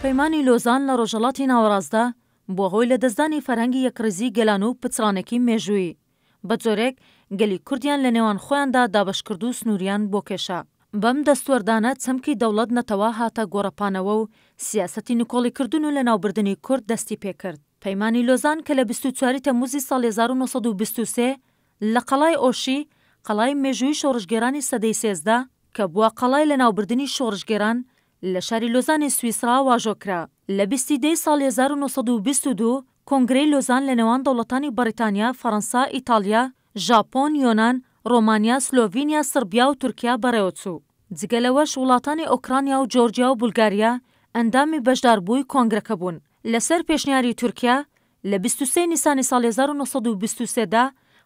پەیمانی لۆزان لە ڕۆژهەڵاتی ناوەڕاستدا بووە هۆی لەدەستدانی فەرهەنگی یەکڕیزیی گەلان و پچڕانێکی مێژوویی. بە جۆرێک گەلی کوردیان لە نێوان خۆیاندا دابەش کرد و سنووریان بۆ کێشا. بەم دەستوەردانە چەمکی دەوڵەت-نەتەوە هاتە گۆڕەپانەوە و سیاسەتی نکۆڵیکردن و لەناوبردنی کورد دەستی پێ کرد. پەیمانی لۆزان کە لە بیست و چوار ی تەممووزی ساڵی هەزار و نۆ سەد و بیست و سێ، لە قەڵای ئۆشی، قەڵای مێژووی شۆڕشگێرانی سەدەی سێزدە، کە بووە قەڵای لەناوبردنی شۆڕشگێران، لە شاری لۆزانی سویسڕا واژۆ کرا. لە بیست ی دەی ساڵی هەزار و نۆ سەد و بیست و دوو، کۆنگرەی لۆزان لە نێوان دەوڵەتانی بەڕیتانیا، فەڕەنسا، ئیتاڵیا، ژاپۆن، یۆنان، ڕۆمانیا، سلۆڤینیا، سڕبیا و تورکیا بەڕێوە چوو. جگە لەوەش وڵاتانی ئۆکرانیا و جۆرجیا و بولگاریا ئەندامی بەشداربووی کۆنگرەکە بوون. لەسەر پێشنیاری تورکیا، لە بیست و سێ نیسانی ساڵی هەزار و نۆ سەد و بیست و سێ دا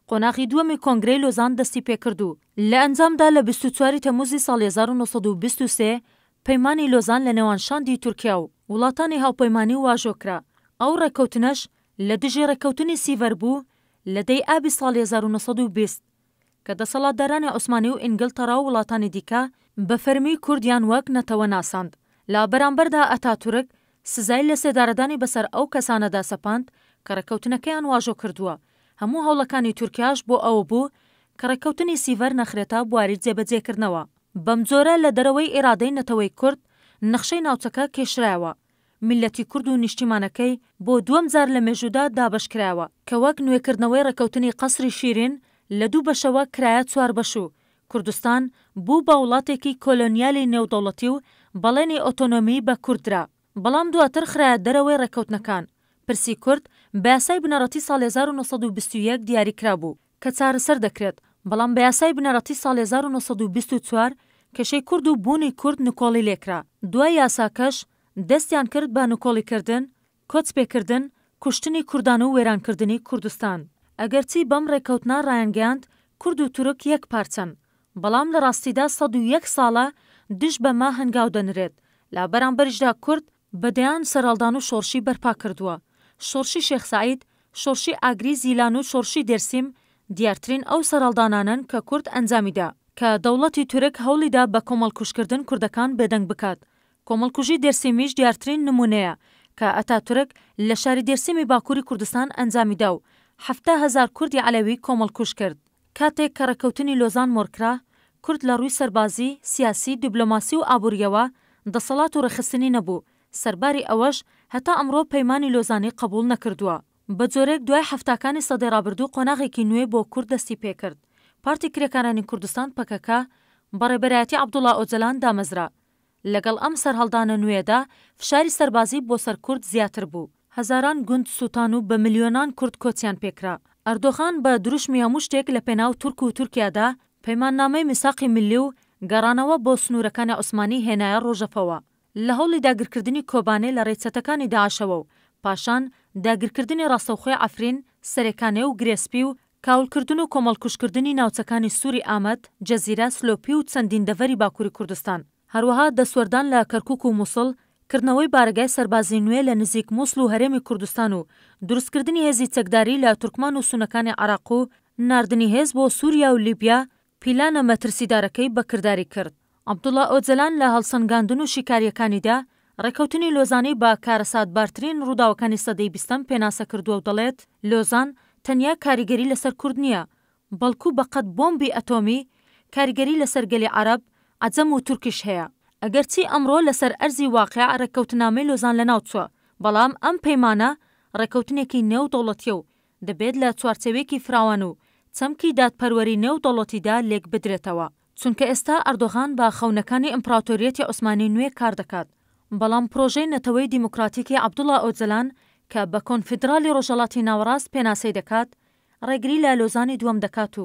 قۆناغی دووەمی کۆنگرەی لۆزان دەستی پێکرد و لە ئەنجامدا لە بیست و چوار ی تەمووزی ساڵی هەزار و نۆ سەد و بیست و سێ پەیمانی لۆزان لە نێوان شاندی تورکیا و وڵاتانی هاوپەیمانی واژۆ کرا. ئەو ڕێککەوتنەش لە دژی ڕێککەوتنی سیڤەر بوو لە دە ی ئابی ساڵی هەزار و نۆ سەد و بیست. کە دەسەڵاتدارانی عوسمانی و ئینگلتەڕا و وڵاتانی دیکە بە فەرمی کوردیان وەک نەتەوە ناساند. لە بەرامبەردا ئەتاتورک سزای لەسێدارەدانی بەسەر ئەو کەسانەدا سەپاند کە ڕێککەوتنەکەیان واژۆ کردووە، هەموو هەوڵەکانی تورکیاش بۆ ئەوە بوو کە ڕێککەوتنی سیڤەر نەخرێتە بواری جێبەجێکردنەوە. بەمجۆرە لە دەرەوەی ئیرادەی نەتەوەی کورد نەخشەی ناوچەکە کێشرایەوە. میللەتی کورد و نیشتیمانەکەی بۆ دووەم جار لە مێژوودا دابەشکرایەوە، کە وەک نوێکردنەوەی ڕێکەوتنی قەسری شیرین لە دوو بەشەوە کرایە چوار بەش و کوردستان بوو بە وڵاتێکی کۆلۆنیالی نێودەوڵەتی و بەڵێنی ئۆتۆنۆمیی بە کورد درا، بەڵام دواتر خرایە دەرەوەی ڕێکەوتنەکان. پرسی کورد بە یاسای بنەڕەتی ساڵی هەزار و نۆ سەد و بیست و یەک دیاریکرابوو، کە چارەسەر دەکرێت، بەڵام بە یاسای بنەڕەتی ساڵی هەزار و نۆ سەد و بیست و چوار کێشەی کورد و بوونی کورد نکۆڵی لێکرا، دوای یاساکەش دەستیان کرد بە نکۆڵی کردن، کۆچ پێکردن، کوشتنی کوردان و وێران کردنی کوردستان. ئەگەرچی بەم ڕێکەوتنە ڕایانگەیاند کورد و تورک یەک پارچەن، بەڵام لە ڕاستیدا سەد و یەک ساڵە دژ بەمە هەنگاو دەنرێت، لە بەرامبەریشدا کورد، بە دەیان سەرهەڵدان و شۆڕشی بەرپا کردووە. شۆڕشی شێخ سەعید، شۆڕشی ئاگری، زیلان و شۆڕشی دێرسیم دیارترین ئەو سەرهەڵدانانەن کە کورد ئەنجامی دا، کە دەوڵەتی تورک هەوڵی دا بە کۆمەڵکوژکردن کوردەکان بێدەنگ بکات. کۆمەڵکوژی دێرسیمیش دیارترین نموونەیە کە ئەتاتورک لە شاری دێرسیمی باکووری کوردستان ئەنجامی دا و حەفتا هەزار کوردی عەلەوی کۆمەڵکوژ کرد. کاتێک کە ڕێککەوتنی لۆزان مۆرکرا، کورد لە ڕووی سەربازی، سیاسی، دیبلۆماسی و ئابوورییەوە دەسەڵات و ڕێکخستنی نەبوو، سەرباری ئەوەش هەتا ئەمڕۆ پەیمانی لۆزانی قەبووڵ نەکردووە. بە جۆرێک دوای حەفتاکانی سەدەی ڕابردوو قۆناغێکی نوێ بۆ کورد دەستی پێکرد. پارتی کرێکارانی کوردستان، پەکەکە، بە ڕێبەرایەتی عەبدوڵا ئۆجەلان دامەزرا. لەگەڵ ئەم سەرهەڵدانە نوێیەدا فشاری سەربازی بۆ سەر کورد زیاتر بوو، هەزاران گوند سووتان و بە ملیۆنان کورد کۆچیان پێکرا. ئەردۆغان بە دروشمی هەموو شتێک لە پێناو تورک و تورکیادا، پەیماننامەی میساقی ملی و گەڕانەوە بۆ سنوورەکانی عوسمانی هێنایە ڕۆژەڤەوە. لە هەوڵی داگیرکردنی کۆبانێ لە ڕێی چەتەکانی داعشەوە و پاشان داگیرکردنی ڕاستەوخۆی عەفرین، سەرێ کانێ و گرێ سپی و کاولکردن و کۆمەڵکوژکردنی ناوچەکانی سوری ئامەد، جزیرە، سلۆپی و چەندین دەڤەری باکوری کوردستان. هەروەها دەستوەردان لە کەرکوک و موسڵ، کردنەوەی بارەگای سەربازی نوێ لە نزیک موسڵ و هەرێمی کوردستان و دروستکردنی هێزی چەکداری لە تورکمان و سونەکانی عێراق و ناردنی هێز بۆ سوریا و لیبیا پیلانە مەترسیدارەکەی بە کرداری کرد. عەبدوڵا ئۆجەلان لە هەڵسەنگاندن و شیکارییەکانیدا، ڕێککەوتنی لۆزانی بە کارەساتبارترین ڕووداوەکانی سەدەی بیستەم پێناسە کردووە و دەڵێت، لۆزان تەنیا کاریگەری لەسەر کورد نییە، بەڵکو بە قەد بۆمبی ئەتۆمی، کاریگەری لەسەر گەلی عەرەب، عەجەم و تورکیش هەیە. ئەگەرچی ئەمڕۆ لەسەر ئەرزی واقیع ڕێککەوتننامەی لۆزان لەناوچووە، بەڵام ئەم پەیمانە ڕێککەوتنێکی نێودەوڵەتییە و دەبێت لە چوارچێوێکی فراوان و چەمکی دادپەروەری نێو دەوڵەتیدا لێک بدرێتەوە، چونکە ئێستا ئەردۆغان بە خەونەکانی ئیمپڕاتۆریەتی عوسمانی نوێ کار دەکات، بەڵام پڕۆژەی نەتەوەی دیموکراتیکی عەبدوڵا ئۆجەلان کە بە کۆنفیدڕالی ڕۆژهەڵاتی ناوەڕاست پێناسەی دەکات، ڕێگری لە لۆزانی دووەم دەکات و